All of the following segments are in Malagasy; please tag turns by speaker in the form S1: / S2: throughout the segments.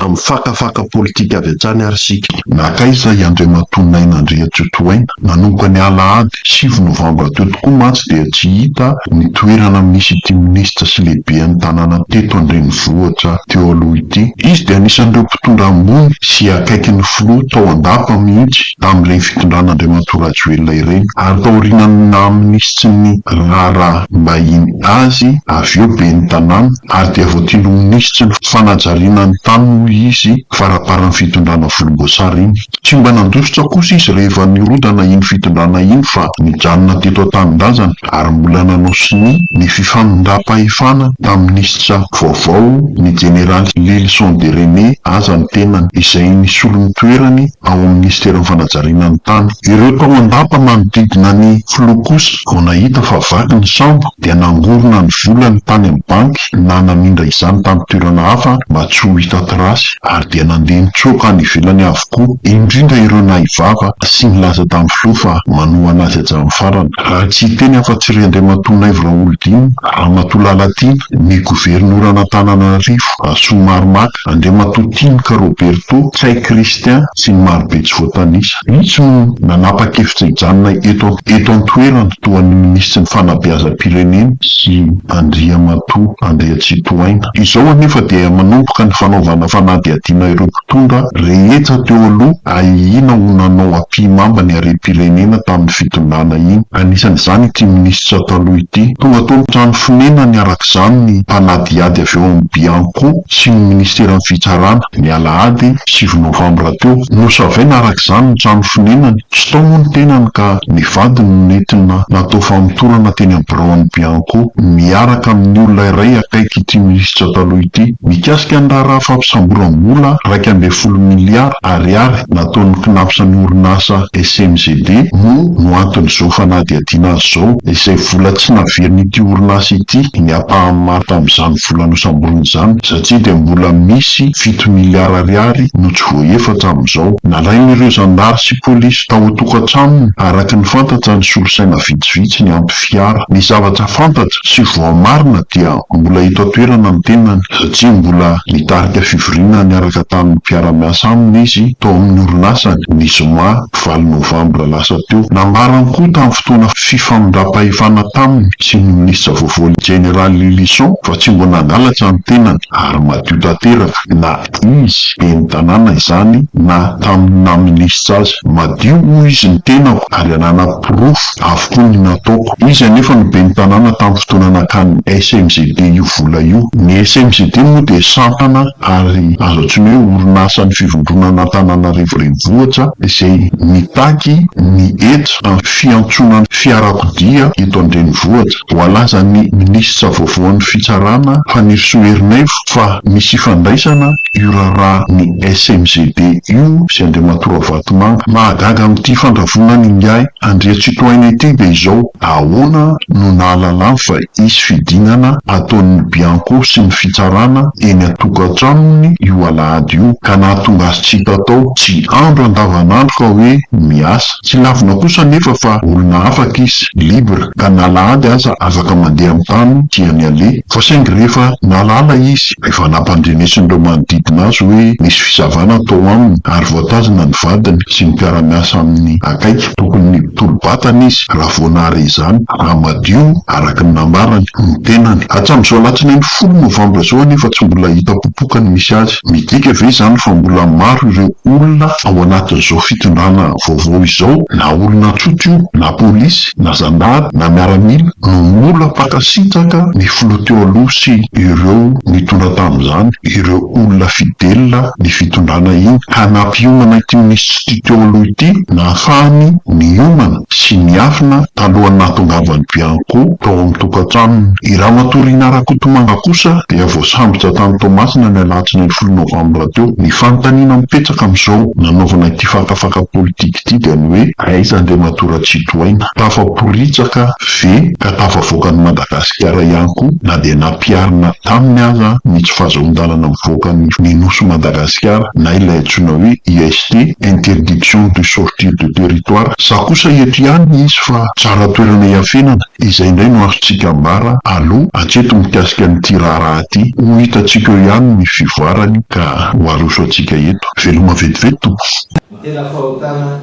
S1: Amin'ny fakafaka politika avy hatrany ary isika. Nankaiza i
S2: Andriamatoa Naina Andriantsitohaina? Nanomboka ny alahady sivy novambra teo tokoa mantsy dia tsy hita ny toerana misy ity minisitra sy lehibean'ny tanàna teto an-drenivohitra teo aloha ity. Izy dia anisan'ireo mpitondra ambony sy akaikin'ny filoha tao an-dapa mihitsy. amin'ilay fitondran'Andriamatoa Rajoelina ireny, ary taorian'ny naha-minisitry sy ny raharaham-bahiny azy avy eo ben'ny tanàna, ary dia voatery ho minisitry ny fanajariana ny tany moa izy faramparan'ny fitondrana volomboasary iny. Tsy mba nandositra kosa izy rehefa nirodana iny fitondrana iny fa nijanona teto an-tanindrazana ary mbola nanao sonia ny fifamindram-pahefana tamin'ny minisitra vaovao, ny jeneraly Lylison Dereney aza ny tenany, izay nisolo ny toerany, ao amin'ny minisiteran'ny fanajariana ny tany. Ireo tao an-dapa manodidina ny filoha kosa vao nahita fa vaky ny sambo dia nangorona ny volany tany amin'ny banky na namindra izany tamin'ny toerana hafa mba tsy ho hita trace ary dia nandeha nitsoaka any ivelany avokoa indrindra ireo nahay vava sy nilaza tamin'ny filoha fa manohana azy hatramin'ny farany raha tsy hiteny afa-tsy ry Andriamatoa Naivo Raholidina, Ramatoa Lalatiana, ny governoran'Antananarivo, Rasoamaromaka. Andriamatoa Timka Roberto, Chay Christian sy ny marobe tsy voatanisa. Vitsy no nanapa-kevitra hijanona eto eto an-toerana toa ny Minisitry ny Fanabeazam-pirenena sy Andriamatoa Andriatsitohaina. Izao anefa dia manomboka ny fanaovana fanadihadiana ireo mpitondra rehetra teo aloha ahiana ho nanao ampihimamba ny harem-pirenena tamin'ny fitondrana iny. Anisan'izany ity Minisitra taloha ity. Tonga tao amin'ny trano fonenany arak'izany ny mpanadihady avy ao amin'ny Bianco. sy ny Ministeran'ny Fitsarana, ny alahady sivy novambra teo. Nosavaina araka izany ny trano fonenany. Tsy tao moa ny tenany ka ny vadiny no nentina natao famotorana teny amin'ny biraon'ny Bianco, miaraka amin'ny olona iray akaiky ity minisitra taloha ity. Mikasika ny raharaha fampisamboram-bola iraika ambin'ny folo miliara Ariary nataon'ny Cnaps an'ny orinasa SMGD moa no anton'izao fanadihadiana azy izao, izay vola tsy naverin'ity orinasa ity ny ampahany maro tamin'izany. vola nosamboriny izany satria dia mbola misy fito miliara ariary no tsy voahefa hatramin'izao. Nalain'ireo zandary sy polisy tao an-tokantranony araka ny fantatra ny solosaina vitsivitsy niampy fiara. Ny zavatra fantatra sy voamarina dia mbola eto an-toerana ny tenany satria mbola nitarika fivoriana niaraka tamin'ny mpiara-miasa aminy izy tao amin'ny orinasany ny zoma valo novambra lasa teo. Nambarany koa tamin'ny fotoana fifamindram-pahefana taminy sy ny minisitra vaovao ny jeneraly Lylison fa tsy mbola nangalatra ny tenany ary madio tanteraka na izy ben'ny tanàna izany na tamin'ny naha minisitra azy. Madio hoy izy ny tenako ary ananako porofo avokoa ny nataoko. Izy anefa no ben'ny tanàna tamin'ny fotoana nakan'ny SMGD io vola io. Ny SMGD moa dia sampana ary azo antsoina hoe orinasan'ny fivondronana Antananarivo Renivohitra izay mitaky ny hetra amin'ny fiantsoana ny fiarakodia eto an-drenivohitra. Voalazan'ny minisitra vaovaon'ny fitsarana, Fanirisoa Ernaivo, fa misy ifandraisana io raharaha ny SMGD io sy Andriamatoa Ravatomanga. Mahagaga amin'ity fandravonan'ingahy Andriatsitohaina ity dia izao, ahoana no nahalalany fa Hisy fidinana ataon'ny bianco sy ny fitsarana eny an-tokantranony io alahady io ka nahatonga azy tsy hita tao. Tsy andro andavanandro fa hoe miasa. Tsy lavina kosa anefa fa olona afaka izy, libre, ka na alahady aza afaka mandeha amin'ny tany tiany aleha. Fa saingy rehefa nahalala izy, efa nampandrenesin'ireo manodidina azy hoe misy fisavana atao aminy ary voatazana ny vadiny sy ny mpiara-miasa aminy akaiky. Tokony hitolo-batana izy raha vao nahare izany, raha madio araka ny nambarany ny tenany. Hatramin'izao alatsinainy folo novambra izao anefa tsy mbola hita popoka ny misy azy. Midika ve izany fa mbola maro ireo olona ao anatin'izao fitondrana vaovao izao, na olona tsotra io, na polisy, na zandary, na miaramila, no mbola mpankasitraka ny filoha teo aloha sy ireo nitondra tamin'izany ireo olona fidelina ny fitondrana iny ka nampiomana ity minisitra Ity Taolo ity nahafahany niomana sy niafina talohan'ny nahatongavan'i Bianco tao amin'ny tokantranony. I Ramatoa Rina Rakotomanga kosa dia voasambotra tany Toamasina ny alatsinainy folo novambra teo. Ny fanontaniana mipetraka amin'izao nanaovana ity fakafaka politika ity dia ny hoe aiza Andriamatoa Ratsitohaina? Tafaporitsaka ve ka tafavoaka an'i Madagasikara ihany koa na dia nampiharina taminy aza ny tsy fahazoan-dalana mivoaka ny Nosy Madagasikara? Madagasikara na ilay antsoina hoe IST, Interdiction de sortir de territoire. Za kosa eto ihany nisy fa tsara toerana iafenana. Izay indray no azontsika ambara aloha hatreto mikasika an'ity raharaha ity. Ho hitantsika eo ihany ny fivoarany ka ho aroso antsika eto. Veloma vetivety tompoko. Ny tena fahotana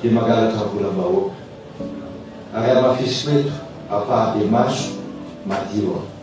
S2: dia mangalatra
S3: volam-bahoaka. Ary hamafiso eto ampahan-demaso madio aho.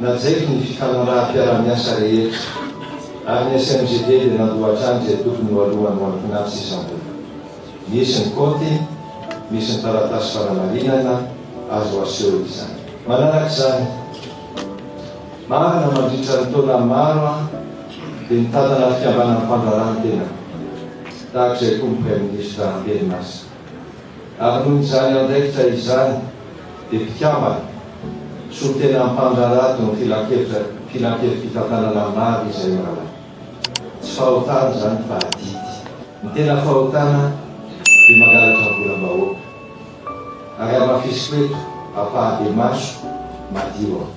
S3: Najaiko ny fifanaraham-piaraha-miasa rehetra ary ny SMGD dia nandoa hatrany izay tokony ho aloany ho an'ny mpinamty sy isam-bola. Misy ny kaonty, misy ny taratasy fanamarinana azo aseho izany. Manaraka izany, marina mandritra ny taona maro aho dia nitantana fikambanan'ny fandraharahana ny tenako, tahaka izay koa ny Praiminisitra amperinasa. Ary noho izany andraikitra izany dia mpikambana solontenan'ny mpandraharaha teo amin'ny filankevi-pitantanana maro izay mirahalahy. Tsy fahotana izany fa adidy. Ny tena fahotana dia mangalatra volam-bahoaka. Ary hamafisiko eto ampahan-demaso madio aho.